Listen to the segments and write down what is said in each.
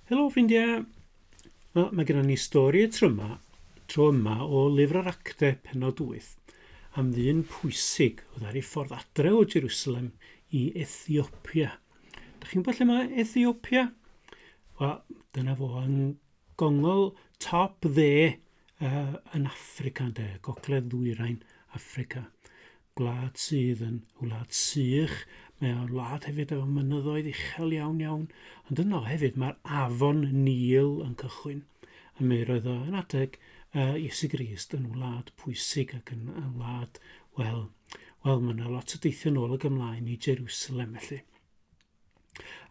Helo ffrindiau! Wel, mae gennym ni stori y tryma, tro yma o lyfr yr acte penod 8 am ddyn pwysig oedd ar ei ffordd adre o Jerusalem i Ethiopia. Dych chi'n gwybod lle mae Ethiopia? Wel, dyna fo yn Gongol top dde uh, yn Africa de, gogledd ddwyrain Africa. Gwlad sydd yn wlad sych, mae o'n wlad hefyd efo mynyddoedd uchel iawn iawn, ond yno hefyd mae'r afon Nil yn cychwyn. A mi roedd o yn adeg uh, Iesu Grist yn wlad pwysig ac yn, yn wlad, wel, wel mae yna lot o deithio nôl ag ymlaen i Jerusalem felly.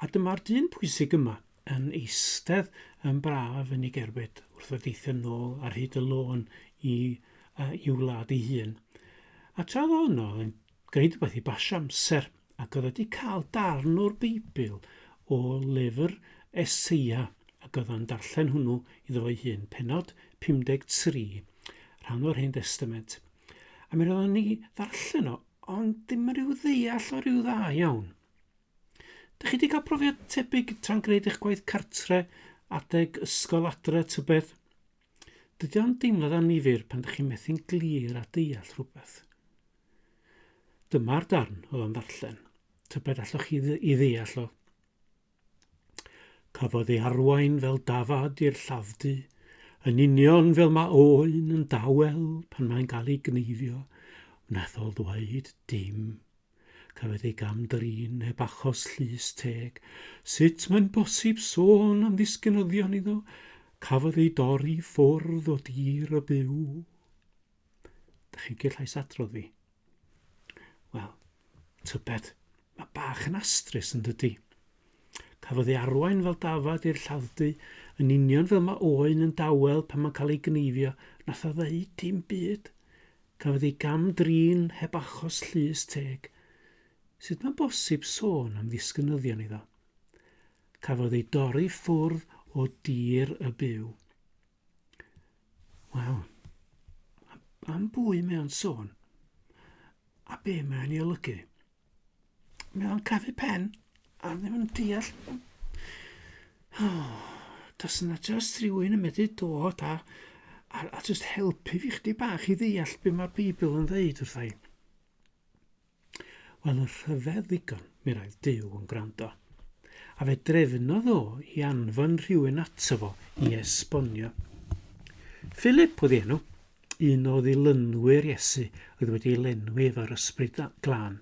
A dyma'r dyn pwysig yma yn eistedd yn braf yn ei gerbyd wrth y deithio nôl ar hyd y lôn i uh, i'w wlad ei hun. A tra oedd hwnnw oedd yn gwneud rhywbeth i basio amser, ac oedd wedi cael darn o'r Beibl o lyfr Eseia, ac oedd yn darllen hwnnw iddo fo'i hun, penod 53, rhan o'r Hen Testament. A mi roeddwn ni ddarllen o, ond dim rhyw ddeall o rhyw dda iawn. Dych chi wedi cael profiad tebyg tra'n gwneud eich gwaith cartre, adeg ysgol adre, tybed? Dydy o'n deimlad annifyr pan dych chi'n methu'n glir a deall rhywbeth. Dyma'r darn oedd o'n ddarllen. Tybed allwch chi i ddeall o? Cafodd ei arwain fel dafad i'r llafdu, yn union fel mae oen yn dawel pan mae'n cael ei gneifio, wnaeth o ddweud dim Cafwyd ei gam-drin heb achos llys teg. Sut mae'n bosib sôn am ddisgynyddion iddo? Cafodd ei dorri i ffwrdd o dir y byw. Dych chi'n cael llais adrodd fi? Wel, tybed, mae bach yn astrus yn dydy. Cafodd ei arwain fel dafad i'r lladd-dy, yn union fel mae oen yn dawel pan mae'n cael ei gneifio, nath o ddeud dim byd. Cafodd ei gam-drin heb achos llys teg. Sut mae bosib sôn am ddisgynyddion iddo? Cafodd ei dorri ffwrdd o dir y byw. Wel, am bwy mae o'n sôn? A be mae'n ei olygu? Mae o'n crafu pen. A ddim yn deall... Oh, does yna just rhywun yn medru dod a, a, a just helpu fi chdi bach i ddeall beth mae'r Beibl yn ddeud wrthai. Wel, y rhyfedd ddigon, mi roedd Dyw yn gwrando. A fe drefnodd o i anfon rhywun ato fo i esbonio. Philip oedd enw. un o ddilynwyr Iesu oedd wedi ei lenwi efo'r ysbryd glân,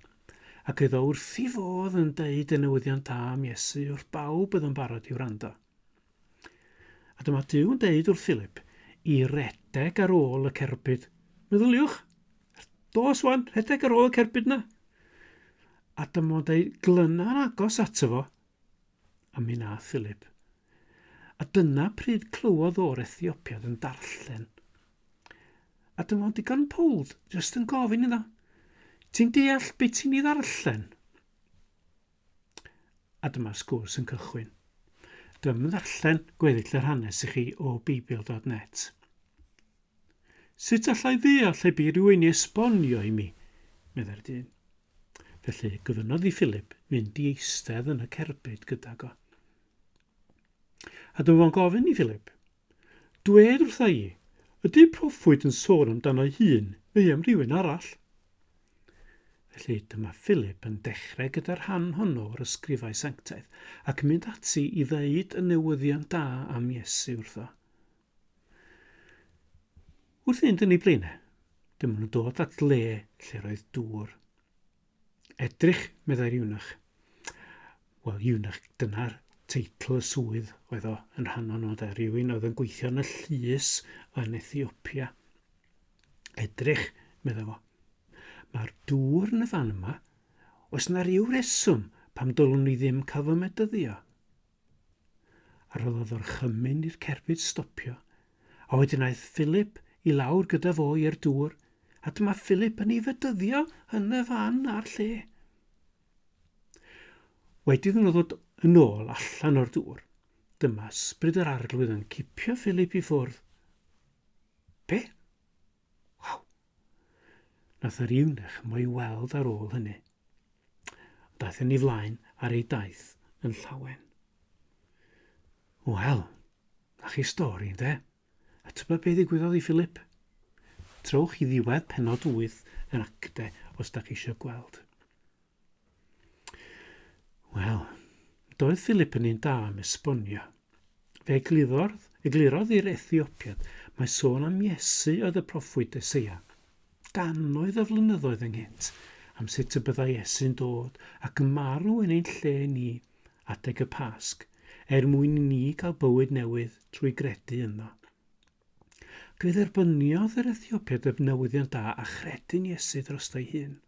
ac oedd o wrth i fodd yn deud y newyddion da am Iesu wrth bawb oedd yn barod i wrando. A dyma Duw yn deud wrth Philip i redeg ar ôl y cerbyd. Meddyliwch, dos wan, rhedeg ar ôl y cerbyd na. A dyma o'n deud, glyna'n agos ato fo, a mi nath Philip. A dyna pryd clywodd o'r Ethiopiad yn darllen. A dyma fo'n digon pold, jyst yn gofyn iddo, ti'n deall beth ti'n ei ddarllen? A dyma'r sgwrs yn cychwyn. Dwi'n ddarllen gweddill yr hanes i chi o Beibl.net. Sut allai ddeall lle bu rhywun i esbonio i mi? meddai'r dyn. Felly gofynnodd i Philip fynd i eistedd yn y cerbyd gydag o. A dyma fo'n gofyn i Philip, Dwed wrtha i, ydy proffwyd yn sôn amdano'i hun neu am rhywun arall? Felly dyma Philip yn dechrau gyda'r rhan honno o'r ysgrifau sanctaidd ac mynd ati i ddeud y newyddion da am Iesu wrtho. Wrth fynd yn ei blaenau, dyma nhw'n dod at le lle roedd dŵr. Edrych, meddai'r iwnach. Wel, iwnach, dyna'r teitl y swydd oedd o yn rhan o'n nod a rhywun oedd yn gweithio yn y llys yn Ethiopia. Edrych, meddai fo. Mae'r dŵr yn y fan yma. Oes yna rhyw reswm pam dylwn ni ddim cael fy medyddio? A rhoddodd orchymyn i'r cerbyd stopio, a wedyn aeth Philip i lawr gyda fo i'r dŵr, a dyma Philip yn ei fedyddio yn y fan a'r lle. Wedi iddyn nhw ddod yn ôl allan o'r dŵr, dyma ysbryd yr arglwydd yn cipio Philip i ffwrdd. Be? Waw, Nath yr iwnech mo'i weld ar ôl hynny. Ond daeth yn ei flaen ar ei daith yn llawen. Wel, na chi stori, ynde? A tybed be ddigwyddodd i Philip? Trowch i ddiwedd penod 8 yn acte os da chi eisiau gweld. Wel, doedd Philip yn un da am esbonio. Fe egliddodd, eglurodd i'r Ethiopiad mae sôn am Iesu oedd y proffwyd Eseia. Gannoedd o flynyddoedd ynghynt am sut y byddai Iesu'n dod ac yn marw yn ein lle ni adeg y Pasg, er mwyn i ni gael bywyd newydd trwy gredu yno. Fe dderbyniodd yr Ethiopiad y newyddion da a chredu'n Iesu drosto'i hun.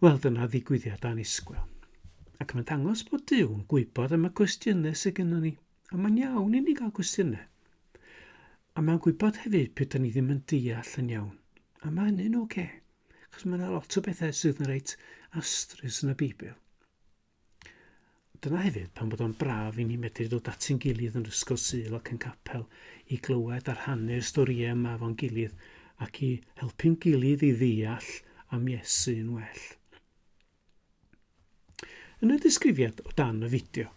Wel, dyna ddigwyddiad annisgwyl. Ac mae'n dangos bod Duw yn gwybod am y cwestiynau sydd gennym ni. A mae'n iawn i ni gael cwestiynau. A mae'n gwybod hefyd pe da ni ddim yn deall yn iawn. A mae hynny'n oce. Okay. Chos mae yna lot o bethau sydd yn reit astrus yn y Beibl. Dyna hefyd pan bod o'n braf i ni medru dod at ein gilydd yn Ysgol Sul ac yn capel i glywed a rhannu'r storïau yma efo'n gilydd ac i helpu'n gilydd i ddeall am Iesu yn well. Yn y disgrifiad o dan y fideo,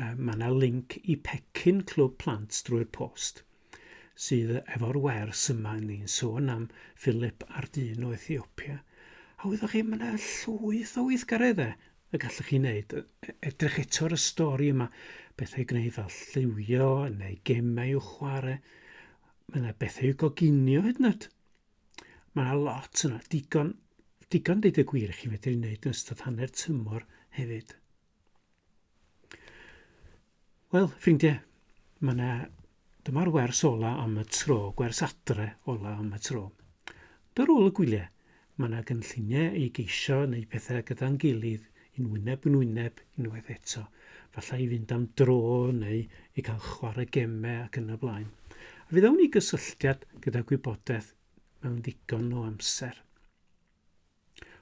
mae yna linc i pecyn Clwb Plant drwy'r post. sydd efo'r wers yma, ni'n sôn am Philip a'r dyn o Ethiopia, a wyddoch chi, mae yna llwyth o weithgareddau y gallwch chi wneud. E- Edrych eto ar y stori yma, bethau i gwneud fel lliwio neu gemau i'w chwarae. Mae yna bethau i'w goginio hyd yn oed. Mae yna lot yna, digon, digon deud y gwir i chi fedru wneud yn ystod hanner tymor hefyd. Wel, ffrindiau, mae yna... Dyma'r wers ola am y tro, gwers adre ola am y tro. Dy rôl y gwyliau, mae yna gynlluniau i geisio neu pethau gyda'n gilydd, yn wyneb yn wyneb, unwaith eto. Falle i fynd am dro neu i cael chwarae gemau ac yn y blaen. A fydd awn i gysylltiad gyda gwybodaeth mewn ddigon o amser.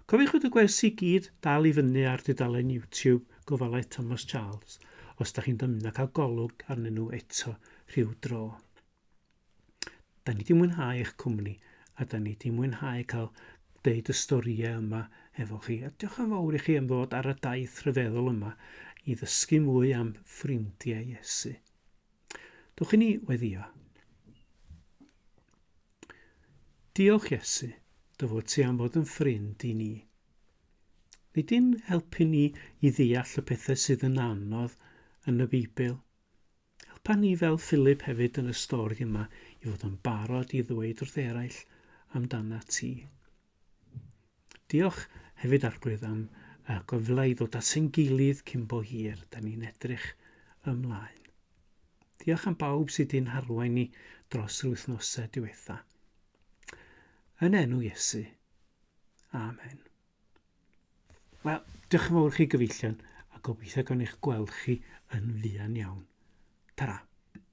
Cofiwch y gwersi i gyd dal i fyny ar dudalen YouTube Gofalaeth Thomas Charles os da chi'n dymuno cael golwg arnyn nhw eto rhyw dro. Da ni di mwynhau eich cwmni a da ni di mwynhau cael deud y storïau yma efo chi. A diolch yn fawr i chi am ddod ar y daith rhyfeddol yma i ddysgu mwy am ffrindiau Iesu. Dwch i ni weddio. Diolch Iesu, dy fod ti am fod yn ffrind i ni. Nid dim helpu ni i ddeall y pethau sydd yn anodd yn y Beibl. Helpa ni fel Philip hefyd yn y stori yma i fod yn barod i ddweud wrth eraill amdana ti. Diolch hefyd Arglwydd am y gyfle i ddod at ein gilydd cyn bo hir, da ni'n edrych ymlaen. Diolch am bawb sydd di'n harwain ni dros yr wythnosau diwetha. Yn enw Iesu. Amen. Wel, diolch yn fawr chi gyfeillion a gobeithio gan eich gweld chi yn fuan iawn. Ta-ra!